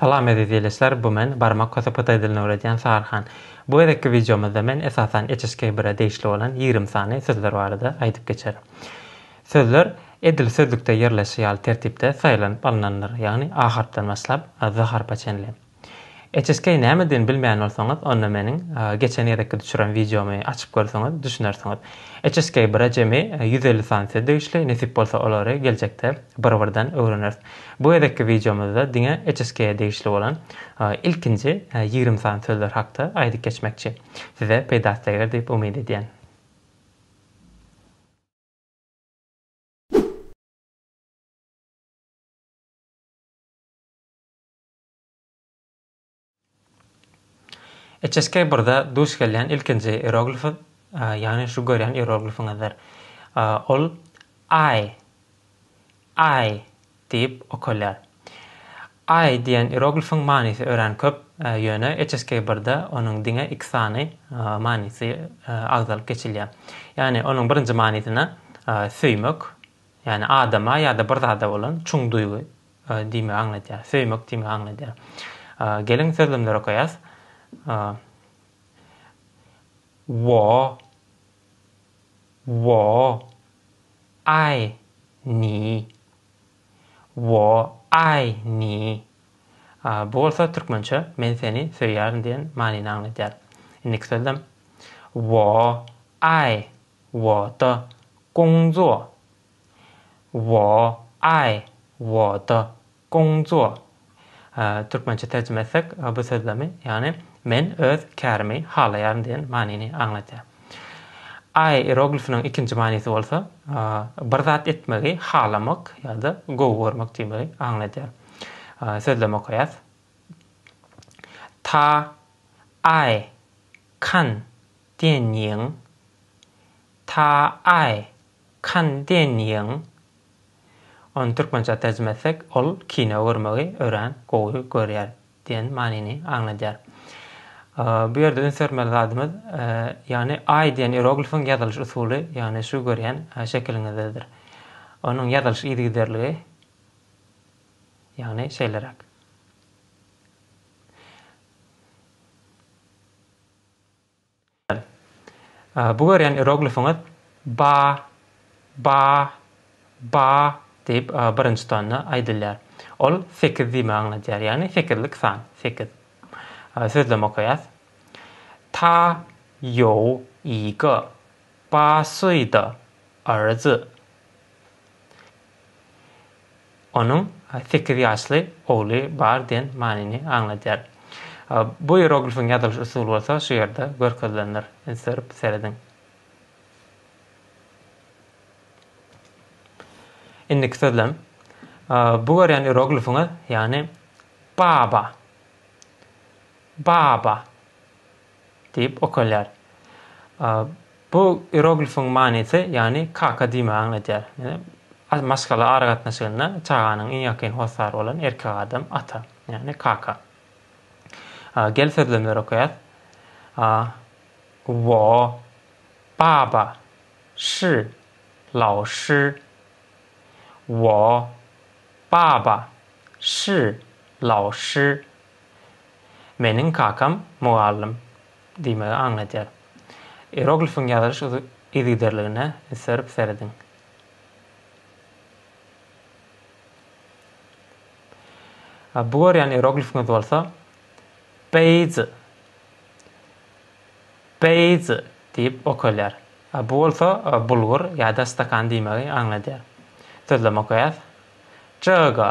Salam eziz ýeleşler bu men barmak köse pytaý dilini öwredýän Saryhan. Bu gezekki wideomyzda men esasan HSK bire degişli bolan ýigrimi sany sözler barada aýdyp geçerin. Sözler edil sözlükde ýerleşi ýaly tertipde saýlanyp alynandyr ýagny A harpdan başlap Z harpa çenli. HSK nämedigini bilmeýän bolsaňyz, onda meniň geçen gezekki düşüren wideomy açyp görseňiz, düşünersiňiz. HSK bir-ä jemi ýüz elli sany söz degişli, nesip bolsa olary geljekde bir-birden öwreneris. Bu gezekki wideomyzda diňe HSK-ä degişli bolan ilkinji ýigrimi sany sözler hakda aýdyp geçmekçi. Size peýdasy deger diýip umyt edýän. HSK-birde duş gelýän ilkinji ieroglif, ýagny şu görýän ieroglifiňizdir. Ol Aý, Aý diýip okalýar. Aý diýen ieroglifiň manysy örän köp, ýöne HSK-birde onuň diňe iki sany manysy agzalyp geçilýär. Ýagny onuň birinji manysyna söýmek, ýagny adama ýa-da bir zada bolan çuň duýgy Diýmegi aňladýar. Söýmek diýmegi aňladýar. Geliň sözlemleri okaýas. Wo. Wo. Aý. Ni. Wo. Aý. Ni. Bu bolsa türkmençe men seni söýýärin diýen manyny aňladýar. Indiki sözlem. Wo. Aý. Wo. Da. Gongzuo. Wo, aý, wo de, gongzuo. Türkmençe terjime etsek, bu sözlemi, ýagny Men öz kärimi halaýaryn diýen manyny aňladýar. Aý ieroglifiniň ikinji manysy bolsa, bir zat etmegi halamak ýa-da gowy görmek diýmegi aňladýar. Sözlemi okaýas. Ta, aý, kan, diýen ýiň. Ta, aý, Kandeniň, ony türkmençä terjime etsek, ol kino görmegi örän gowy görýär diýen manyny aňladýar. Bu ýerde üns bermeli zadymyz, ýagny Aý diýen ieroglifiň ýazylyş usuly, ýagny şu görýän şekiliňizdedir. Onuň ýazylyş yzygiderligi, ýagny şeýleräk. Mysal. Bu görýän ieroglifiňiz Ba, Ba, Ba diýip birinji tonda aýdylýar. Ol sekiz diýmegi aňladýar, ýagny sekizlik san, sekiz. Sözlem okaýas. Ta ýou i ge ba suý de er zi. Onuň sekiz ýaşly ogly bar diýen manyny aňladýar. Bu ieroglifiň ýazylyş usuly bolsa şu ýerde görkezilendir. Üns berip serediň. Indiki sözlem. Bu görýän ieroglifiňiz, ýagny baba. Baba. diýip okalýar. Bu ieroglifiň manysy, ýagny kaka diýmegi aňladýar. Maşgala aragatnaşygynda çaganyň iň ýakyn hossary bolan erkek adam ata, ýagny kaka. Gel sözlemleri okaýas. Wo, baba, shi, lao shi. Wo, baba, shi, lao shi, Meniň kakam mugallym diýmegi aňladýar. Ieroglifiň ýazylyş yzygiderligine üns berip serediň. Bu görýän ieroglifiňiz bolsa Beýzi, Beýzi diýip okalýar. Bu bolsa bulgur ýa-da stakan diýmegi aňladýar. Sözlem okaýas. Jyga,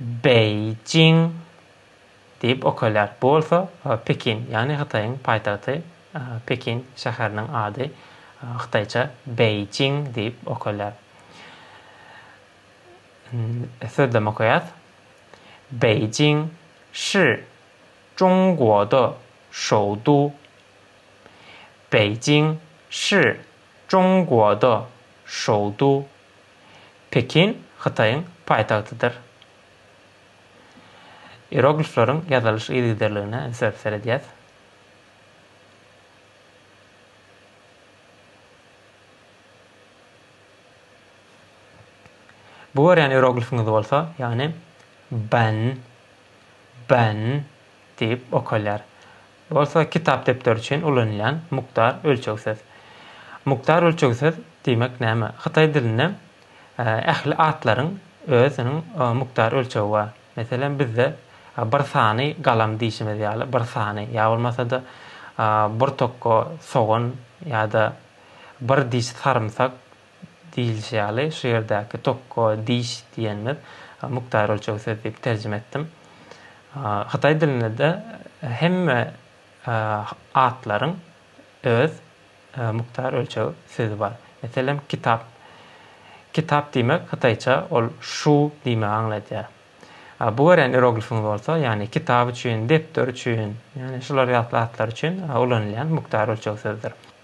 Beýjing diýip okalýar. Bu bolsa Pekin, ýagny Hytaýyň paýtagty Pekin şäheriniň ady hytaýça Beýjing diýip okalýar. Sözlem okaýas. Beýjing şi Zhongguo de şoudu. Beýjing şi Zhongguo de şoudu. Pekin Hytaýyň paýtagtydyr. Ieroglifleriň ýazylyş yzygiderligine ünse seredýäs. Bu görýän ieroglifiňiz bolsa, ýagny Ban, Ban diýip okalýar. Bolsa kitap-depder üçin ulanylýan mukdar ölçeg söz. Mukdar ölçeg söz diýmek näme? Hytaý dilinde ähli atlaryň özüniň mukdar ölçegi bar. Meselem, bizde bir sany galam diýşimiz ýaly, bir sany, ýa bolmasa-da bir tokga sogan ýa-da bir diş sarymsak diýilişi ýaly, şu ýerdäki tokko diş diýenimiz mukdar ölçeg söz diýip terjime etdim. Hytaý dilinde-de hemme atlaryň öz mukdar ölçeg sözi bar. Meselem, kitap. Kitap diýmek hytaýça ol şu diýmegi aňladýar. Bu görýän ieroglifiňiz bolsa, ýagny kitap üçin, depder üçin, ýagny şular ýatly atlar üçin ulanylýan mukdar ölçeg sözdür.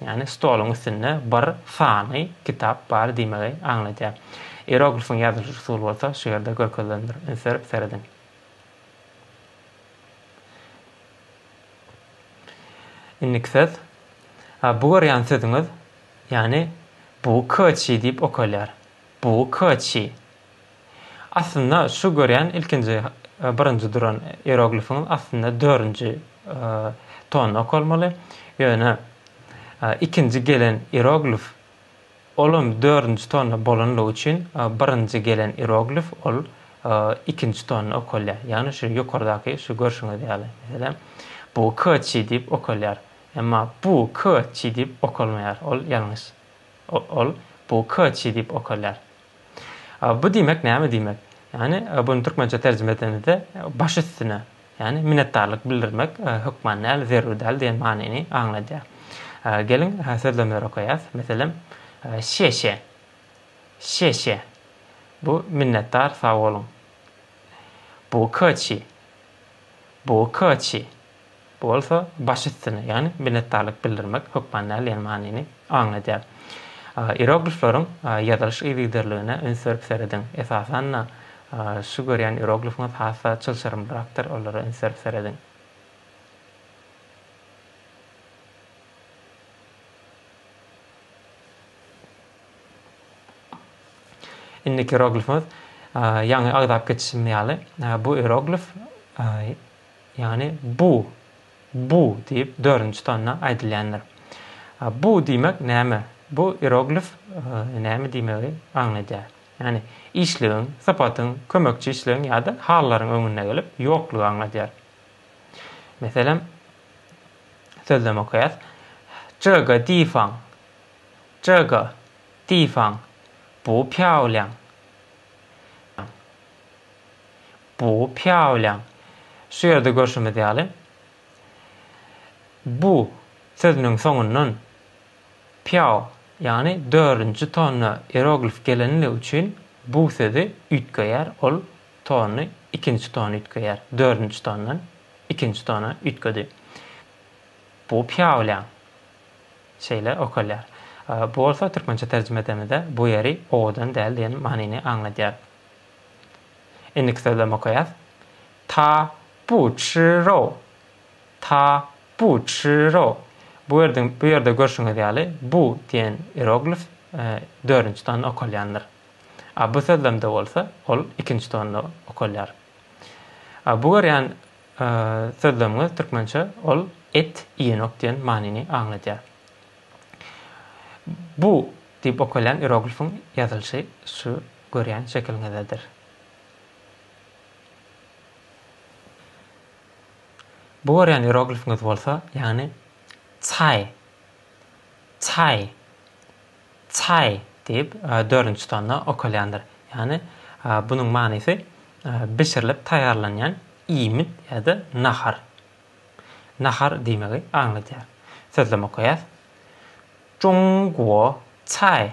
Ýagny stoluň üstünde bir sany kitap bar diýmegi aňladýar. Ieroglifyň ýazylyş usuly bolsa şu ýerde görkezilendir. Üns berip serediň. Indiki söz. Bu görýän sözüňiz, ýagny bu köçi diýip okalýar. Bu köçi. Aslynda şu görýän ilkinji birinji duran ieroglifiňiz aslynda dördünji ton okalmaly. Ýöne ikinji gelen ieroglif olam dördünji tonda bolanlygy üçin birinji gelen ieroglif ol ikinji tonda okalýar. Ýagny şu ýokardaky şu görşüňiz ýaly. Meselem bu kçi diýip okalýar. Emma bu kçi diýip okalmaýar. Ol ýalňyş. Ol bu kçi diýip okalýar. Bu diýmek näme diýmek? Ýagny buny türkmençe terjime edenimizde baş üstüne, ýagny minnetdarlyk bildirmek hökman däl, zerur däl diýen manyny aňladýar. Geliň, sözlemleri okaýas. Meselem, Şeşe. Şeşe. Bu minnetdar, sag boluň. Bukaçi. Bukaçi. Bu bolsa baş üstüne, ýagny minnetdarlyk bildirmek hökman däl diýen manyny aňladýar. Ieroglifleriň ýazylyş yzygiderligine üns berip serediň. Esasan-da, şu görýän ieroglifiňiz has-da çylşyrymlyrakdyr, olara üns berip serediň. Indiki ieroglifimiz, ýaňy agzap geçişimiz ýaly, bu ieroglif Ýagny bu, bu diýip dördünji tonda aýdylýandyr. Bu diýmek näme? Bu ieroglif näme diýmegi aňladýar? Ýagny işligiň, sypatyň, kömekçi işligiň ýa-da hallaryň öňünde gelip, ýoklugy aňladýar. Meselem, sözlem okaýas. Zhega difaň, zhega difaň, bu pýawliaň. Bu pýawlaň, şu ýerde görşümiz ýaly, bu sözüniň soňundan pýaw, ýagny dördünji tonna ieroglif gelenligi üçin bu sözi üýtgeýär, ol tony ikinji tona üýtgeýär, dördünji tondan ikinji tona üýtgedi. Bu pýawlaň. Şeýle okalýar. Bu bolsa türkmençe terjime edemizde bu ýeri owadan däl diýen manyny aňladýar. Indiki sözlem okaýas. Ta bu çy ro. Ta bu çy ro. Bu ýerde bu ýerde görşüňiz ýaly bu diýen ieroglif dördünji tonda okalýandyr. A bu sözlemde bolsa ol ikinji tonda okalýar. A bu görýän sözlemiňiz türkmençe ol et iýenok diýen manyny aňladýar. Bu diýip okalýan ieroglifiň ýazylyşy şu Görýän şekiliňizedir. Bu görýän ieroglifiňiz bolsa, ýagny Çaý, Çaý, Çaý diýip, dördünji tonda okalýandyr. Ýagny bunuň manysy bişirilip taýýarlanýan iýmit ýa-da nahar. Nahar diýmegi aňladýar. Sözlem okaýas. Zhongguo Çaý.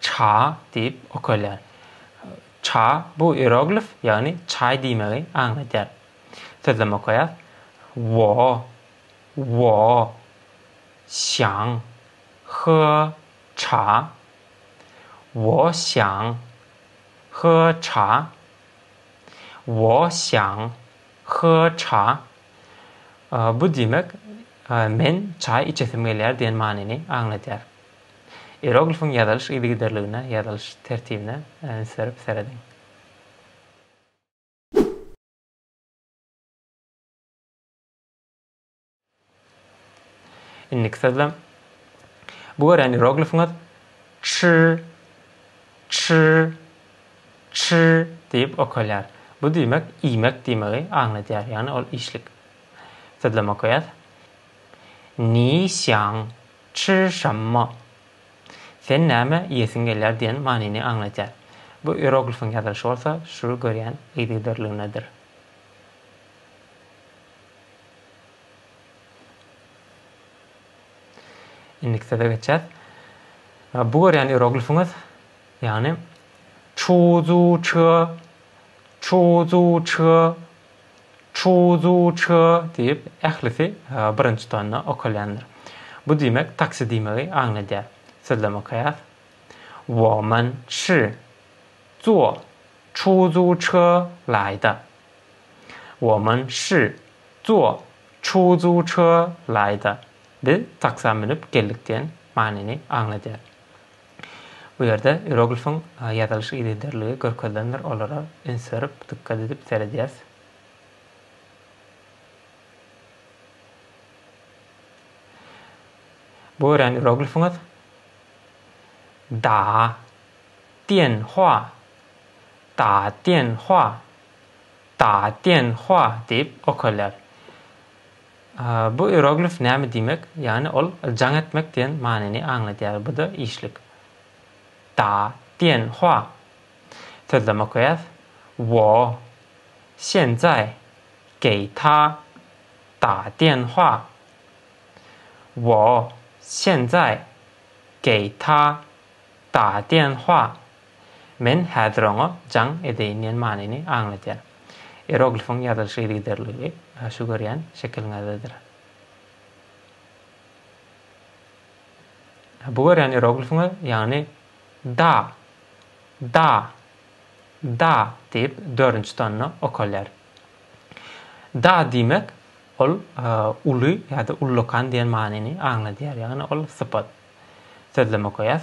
Cha diýip okalýar. Cha bu ieroglif, ýagny çaý diýmegi aňladýar. Sözlem okaýas. Wo, wo, xiang, he, cha. Wo xiang, he, cha. Wo xiang, he, cha. Bu diýmek, men çaý içesim gelýär diýen manyny aňladýar. Ieroglifyň ýazylyş yzygiderligine, ýazylyş tertibine üns berip serediň. Indiki sözlem. Bu görýän ieroglifiňiz çy, çy, çy diýip okalýar. Bu diýmek iýmek diýmegi aňladýar, ýagny ol işlik. Sözlem okaýas. Ni xiang Çşşşammo. Sen näme iýesiň gelýär diýen manyny aňladýar. Bu ieroglifiň ýazylyşy bolsa şu görýän yzygiderligindedir. Indiki söze geçýäs. Bu görýän ieroglifiňiz, ýagny çuzuçy, çuzuçy. Çuzujy diýip, ählisi birinji tonna okalýandyr. Bu diýmek taksi diýmegi aňladýar. Sözlem okaýas. Woman çy zuo çuzu çy laý da. Woman çy zuo çuzu çy laý da. Biz taksa münüp geldik diýen manyny aňladýar. Bu ýerde ieroglifiň ýazylyş yzygiderligi görkezilendir, olara üns berip, dykgat edip seredýäs. Bu örän ieroglifiňiz Da Tian Hua, Da Tian Hua, Da Tian Hua diýip okalýar. Bu ieroglif näme diýmek? Ýagny ol jaň etmek diýen manyny aňladýar, bu-da işlik. Da diýen hua. Sözlem okaýas. Wo. Şenzaý. Geý ta. Da diýen hua. Wo. Şenzaý. Geý ta. Da diýen hua. Men häzir oňa jaň edeýin diýen manyny aňladýar. Ieroglifiň ýazylyş yzygiderliligi şu görýän şekiliňizdedir. Bu görýän ieroglifiňiz, ýagny Da, Da, Da diýip dördünji tonna okalýar. Da diýmek, ol uly ýa-da ullakan diýen manyny aňladýar, ýagny ol sypat. Sözleme goýas.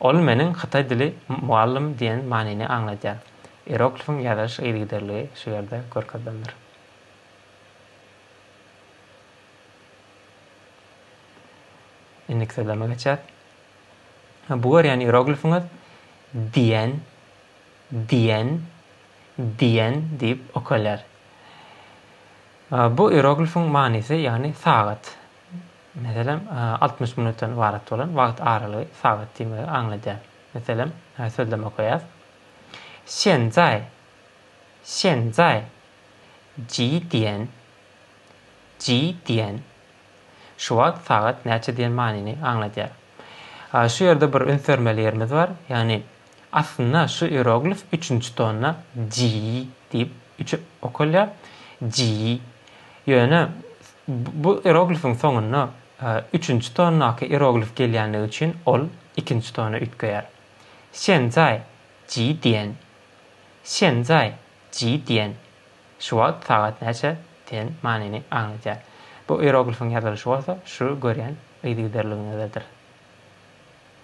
Ol meniň hytaý dili mugallym diýen manyny aňladýar. Ieroglifiň ýazylyş yzygiderligi şu ýerde görkezilendir. Indiki sözleme geçýäs. Bu görýän ieroglifiňiz diýen, diýen, diýen diýip okalýar. Bu ieroglifiň manysy, ýagny sagat. Meselem, altmyş minutdan ybarat bolan wagt aralygy sagat diýmegi aňladýar. Meselem, sözlem okaýas. Şenzai, şenzai, ji diýen, ji diýen. Şu wagt sagat näçe diýen manyny aňladýar. Şu ýerde bir üns bermeli ýerimiz bar, ýagny, Aslynda şu ieroglif üçünji tonna ji diýip üçe okalýar, ji. Ýöne bu ieroglifiň soňunda üçünji tonnaky ieroglif gelýänligi üçin ol ikinji tona üýtgeýär. Şenzaý, ji diýen. Şenzaý, ji diýen. Şu wagt sagat näçe? diýen manyny aňladýar. Bu ieroglifiň ýazylyşy bolsa şu görýän yzygiderligiňizdedir.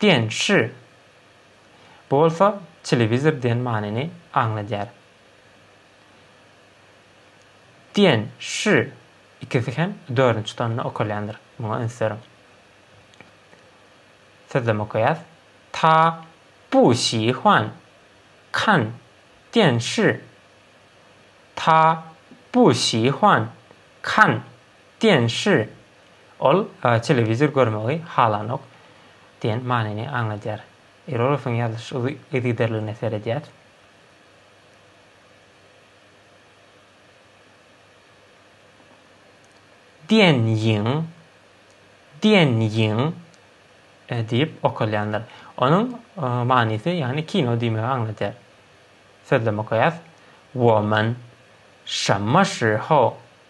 Dian Shi bolsa telewizor diýen manyny aňladýar. Dian Shi ikisi hem dördünji tonda okalýandyr, muňa üns beriň. Sözlem okaýas. Ta bu şi huan kan dian shi Ta bu şi huan kan dian shi Ol telewizor görmegi halanok diýen manyny aňladýar. Ironowyň ýazyş yzygiderligine seredýär. Diýen ýyň, diýen ýyň diýip okalýandyr. Onuň manysy, ýagny kino diýmegi aňladýar. Sözlem okaýas. Woman, Şamma şihou,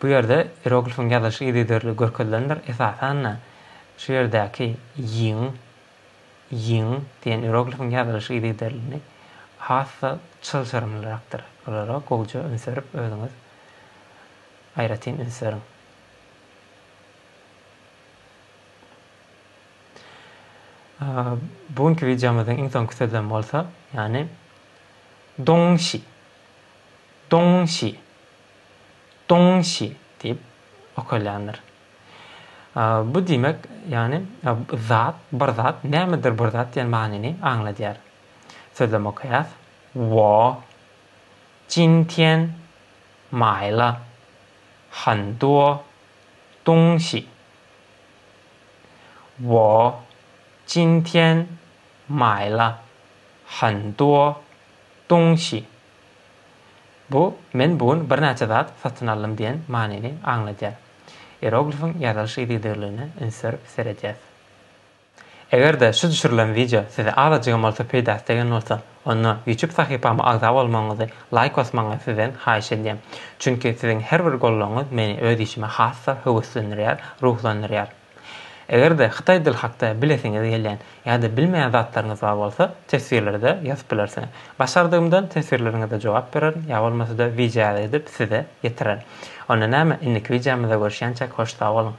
Bu ýerde ieroglifiň ýazylyşy yzygiderli görkezilendir. Esasan-da, şu ýerdäki ýiň, ýiň diýen ieroglifiň ýazylyşy yzygiderlini has-da çylşyrymlyrakdyr. Olara gowja üns berip, özüňiz aýratyn üns beriň. Bu günki wideomyzyň iň soňky sözlemi bolsa, ýagny dongşi. Doňňşi, doňňşi diýip okalýandyr. Bu diýmek, ýagny zat, bir zat, nämedir bir zat diýen manyny aňladýar. Sözlem okaýas. Wo, jin tian, maýla, han duo, doňňşi. Wo, jin tian, maýla, han duo, doňňşi. Bu Men bu gün birnäçe zat satyn aldym diýen manyny aňladýar. Ieroglifiň ýazylyş yzygiderligine üns berip seredýäs. Eger-de şu düşürilen wideo size azajygam bolsa peýdasy degen bolsa, onda YouTube sahypama agza bolmagyňyzy, laýk basmagyňyzy sizden haýyş edýän. Çünki siziň her bir gollagyňyz meni öz işime has-da höweslendirýär, ruhlandyrýar. Eger-de hytaý dil hakda bilesiňiz gelýän ýa-da bilmeýän zatlaryňyz bar bolsa, teswirlerde ýazyp bilersiňiz. Başardygymdan teswirleriňize jogap bererin ýa bolmasa-da wideoýazy edip size ýetirerin. Onda näme, indiki wideomyzda görüşýänçäk hoş sag boluň!